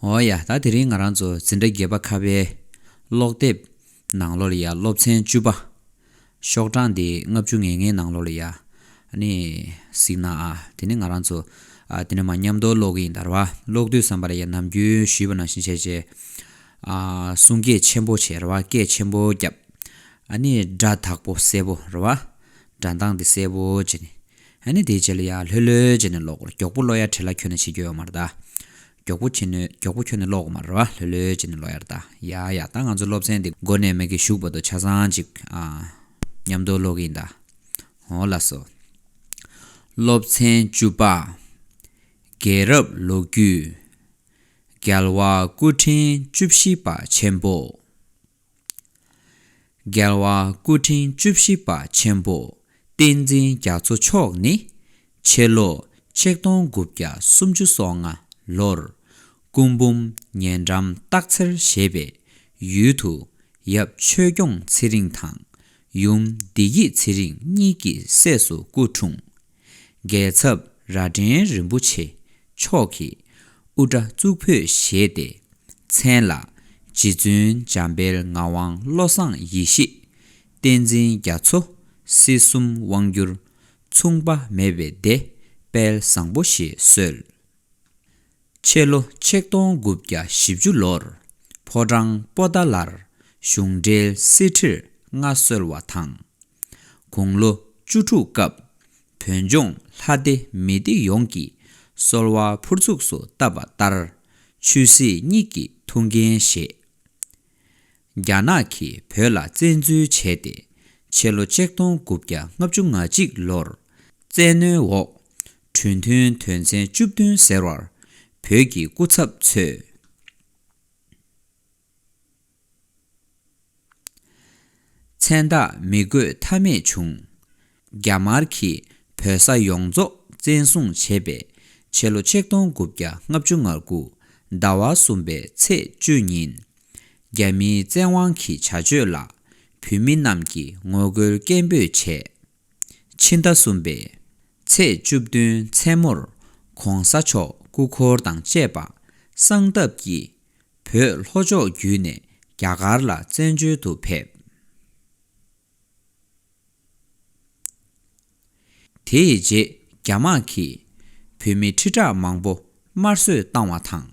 འོ་ཡ། ད་དེ་རིང་ང་རང་ཚོ་འཛིན་གྲྭ་བརྒྱད་པ་ཁ་བའི་ཀློག་དེབ་ནང་ལོ་ལ་ཡ་སློབ་ཚན་བཅུ་པ། ཤོག་གྲངས་དེ་ལྔ་བཅུ་ངེས་ངེས་ནང་ལོ་ལ་ཡ། ནི། གཟིགས་ན་ཨ། དེ་ནི་ང་རང་ཚོ། ཨ། དེ་ནི་མ་ཉམས་རྡོ་ཀློག་གི་ཡིན་དར་བ་ཀློག་དུས་བསམ་པ་ལ་ཡ་ནམ་རྒྱུན་ཞུས་པ་ནང་བཞིན་བྱས་རྗེས། ཨ། གསུང་སྐད་ཆེན་པོ་བྱས་ར་བ་སྐད་ཆེན་པོ་རྒྱབ། ཨ་ནི་སྒྲ་དག་པོ་གསལ་པོ་ར་བ། སྒྲ་མདངས་དེ་གསལ་པོ་བྱས་ནས། ཨ་ནི་དེའི་རྗེས་ལ་ཡར་ལྷོད་ལྷོད་བྱས་ནས་ལོག་གོ་རྒྱོག་པོ་ལོ་ཡར་དྲེ་ལ་ཁྱོད་ནི་ཕྱི་རྒྱོ་ཡོ་མར་ལྟ། རྒྱོག་པོ་ཁྱི་ནི་རྒྱོག་པོ་ཁྱོད་ནི་ལོག་གོ་མར་རོ་ལྷོད་ལྷོད་བྱས་ནས་ལོ་ཡར་ལྟ་ཡ་ཡ་ད་ང་ཚོ་སློབ་ཚན་འདི་མགོ་ནས་མིག་གི་གཞུག་པ་དོ་ཆ་ཚང་ཅིག་མཉམ་དུ་ཀློག་གིན་གདའ། ཧོ་ལ་སོ། སློབ་ཚན་བཅུ་པ། རྒྱལ་རབས་ལོ་རྒྱུས། རྒྱལ་བ་སྐུ་ཕྲེང་བཅུ་བཞི་པ་ཆེན་པོ། རྒྱལ་བ་སྐུ་ཕྲེང་བཅུ་བཞི་པ་ཆེན་པོ་བསྟན་འཛིན་རྒྱ་མཚོ་མཆོག་ནི། ཕྱི་ལོ་ཆིག་སྟོང་དགུ་བརྒྱ་སུམ་ཅུ་སོ་ལྔ་ལོར་སྐུ་འབུམ་ཉེ་འགྲམ་སྟག་འཚེར་ཞེས་པའི་ཡུལ་དུ་ཡབ་ཆོས་སྐྱོང་ཚེ་རིང་དང་ཡུམ་བདེ་སྐྱིད་ཚེ་རིང་གཉིས་ཀྱི་སྲས་སུ་སྐུ་འཁྲུངས། འགལ་ཚབ་རྭ་སྒྲེང་རིན་པོ་ཆེ་མཆོག་གིས་དབུ་སྐྲ་གཙུག་ཕུད་བཞེས་ཏེ་མཚན་ལ། རྗེ་བཙུན་འཇམ་དཔལ་ངག་དབང་བློ་བཟང་ཡེ་ཤེས། བསྟན་འཛིན་རྒྱ་མཚོ། སྲིད་གསུམ་དབང་བསྒྱུར། མཚུངས་པ་མེད་པའི་སྡེ་དཔལ་བཟང་པོ་ཞེས་གསོལ། ཕྱི་ལོ་ཆིག་སྟོང་དགུ་བརྒྱ་བཞི་བཅུ་ལོར་ཕོ་བྲང་པོ་ཏཱ་ལར་གཞུང་འབྲེལ་སྲིད་ཁྲིར་མངའ་གསོལ་བ་དང། དགུང་ལོ་བཅུ་དྲུག་སྐབས་བོད་ལྗོངས་ལྷ་སྡེ་མི་སྡེ་ཡོངས་ཀྱིས་གསོལ་བ་ཕུར་ཚུགས་སུ་བཏབ་པ་ལྟར་ཆོས་སྲིད་གཉིས་ཀྱི་ཐུགས་འགན་བཞེས། རྒྱ་ནག་གིས་བོད་ལ་བཙན་འཛུལ་བྱས་ཏེ་ཕྱི་ལོ་ཆིག་སྟོང་དགུ་བརྒྱ་ལྔ་བཅུ་ང་གཅིག་ལོར་བཙན་གནོན་འོག་གྲོས་མཐུན་དོན་ཚན་བཅུ་བདུན་ཟེར་བར་བོད་ཀྱི་སྐུ་ཚབ་ཚོས་མཚན་རྟགས་མི་དགོས་ཐབས་མེད་བྱུང། རྒྱ་དམར་གྱིས་བོད་ས་ཡོངས་རྫོགས་བཙན་བཟུང་བྱས་པའི་ཕྱི་ལོ་ཆིག་སྟོང་དགུ་བརྒྱ་ལྔ་བཅུ་ང་དགུ་ཟླ་བ་གསུམ་པའི་ཚེས་བཅུ་ཉིན། རྒྱ་མིའི་བཙན་དབང་གི་བྱ་སྤྱོད་ལ་བོད་མི་རྣམས་ཀྱིས་ངོ་རྒོལ་སྐད་འབོད་བྱས། ཕྱི་ཟླ་གསུམ་པའི་ཚེས་བཅུ་བདུན་མཚན་མོར ྋགོང་ས་མཆོག་སྐུ་འཁོར་དང་བཅས་པ་གསང་སྟབས་ཀྱིས་བོད་ལྷོ་ཕྱོགས་བརྒྱུད་ནས་རྒྱ་གར་ལ་བཙན་བྱོལ་དུ་ཕེབས། དེའི་རྗེས་རྒྱ་དམག་གིས་བོད་མི་ཁྲི་ཕྲག་མང་པོ་དམར་གསོད་བཏང་བ་དང།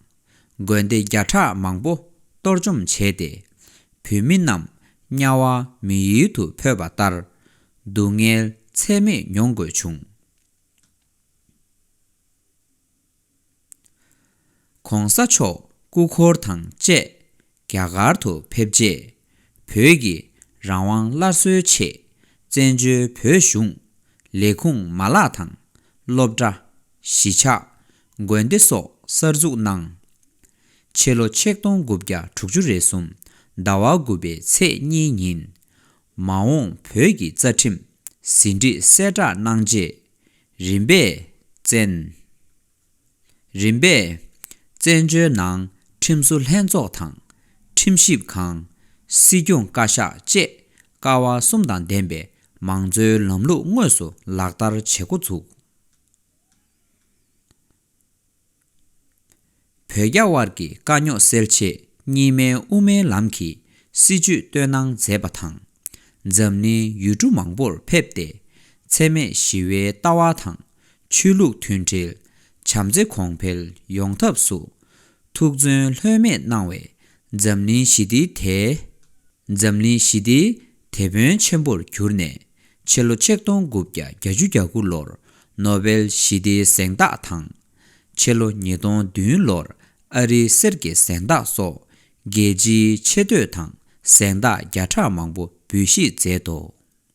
དགོན་སྡེ་བརྒྱ་ཕྲག་མང་པོ་གཏོར་བཅོམ་བྱས་ཏེ། བོད་མི་རྣམས་དམྱལ་བ་མི་ཡུལ་དུ་འཕོས་པ་ལྟར་སྡུག་བསྔལ་ཚད་མེད་མྱོང་དགོས་བྱུང། ྋགོང་ས་མཆོག་སྐུ་འཁོར་དང་བཅས་རྒྱ་གར་དུ་ཕེབས་རྗེས། བོད་ཀྱི་རང་དབང་སླར་གསོའི་ཆེད་བཙན་བྱོལ་བོད་གཞུང་ལས་ཁུངས་མ་ལག་དང། སློབ་གྲྭ། གཞིས་ཆགས། དགོན་སྡེ་སོགས་གསར་འཛུགས་གནང། ཕྱི་ལོ་ཆིག་སྟོང་དགུ་བརྒྱ་དྲུག་ཅུ་རེ་གསུམ་ཟླ་བ་དགུ་པའི་ཚེས་གཉིས་ཉིན། མ་འོངས་བོད་ཀྱི་རྩ་ཁྲིམས་ཟིན་བྲིས་གསལ་བསྒྲགས་གནང་རྗེས། རིམ་པས་བཙན། རིམ་པས་བཙན་བྱོལ་ནང་ཁྲིམས་བཟོ་ལྷན་ཚོགས་དང། ཁྲིམས་ཞིབ་ཁང། སྲིད་སྐྱོང་བཀའ་ཤག་བཅས་ཀ་བ་གསུམ་དང་ལྡན་པའི་མང་གཙོའི་ལམ་ལུགས་དངོས་སུ་ལག་བསྟར་བྱེད་འགོ་ཚུགས། བོད་རྒྱ་དབར་གྱི་དཀའ་རྙོག་སེལ་ཆེད་གཉིས་སྨན་དབུ་མའི་ལམ་གྱི་སྲིད་བྱུས་བཏོན་གནང་མཛད་པ་དང། འཛམ་གླིང་ཡུལ་གྲུ་མང་པོར་ཕེབས་ཏེ་འཚེ་མེད་ཞི་བའི་ལྟ་བ་དང་ཆོས་ལུགས་མཐུན་སྒྲིལ་བྱམས་བརྩེ་གོང་འཕེལ་ཡོང་ཐབས་སུ་ཐུགས་བརྩོན་ལྷོད་མེད་གནང་བས་འཛམ་གླིང་ཞི་བདེའི་དེ་འཛམ་གླིང་ཞི་བདེའི་དེད་དཔོན་ཆེན་པོར་གྱུར་ནས་ཕྱི་ལོ་ཆིག་སྟོང་དགུ་བརྒྱ་གྱ་བཅུ་གྱ་དགུ་ལོར་ནོ་བེལ་ཞི་བདེའི་གཟེངས་རྟགས་དང། ཕྱི་ལོ་ཉིས་སྟོང་བདུན་ལོར་ཨ་རིའི་གསེར་གྱི་གཟེངས་རྟགས་སོགས་རྒྱལ་སྤྱིའི་ཆེ་བསྟོད་དང་གཟེངས་རྟགས་བརྒྱ་ཕྲག་མང་པོ་འབུལ་བཞེས་མཛད་དོ།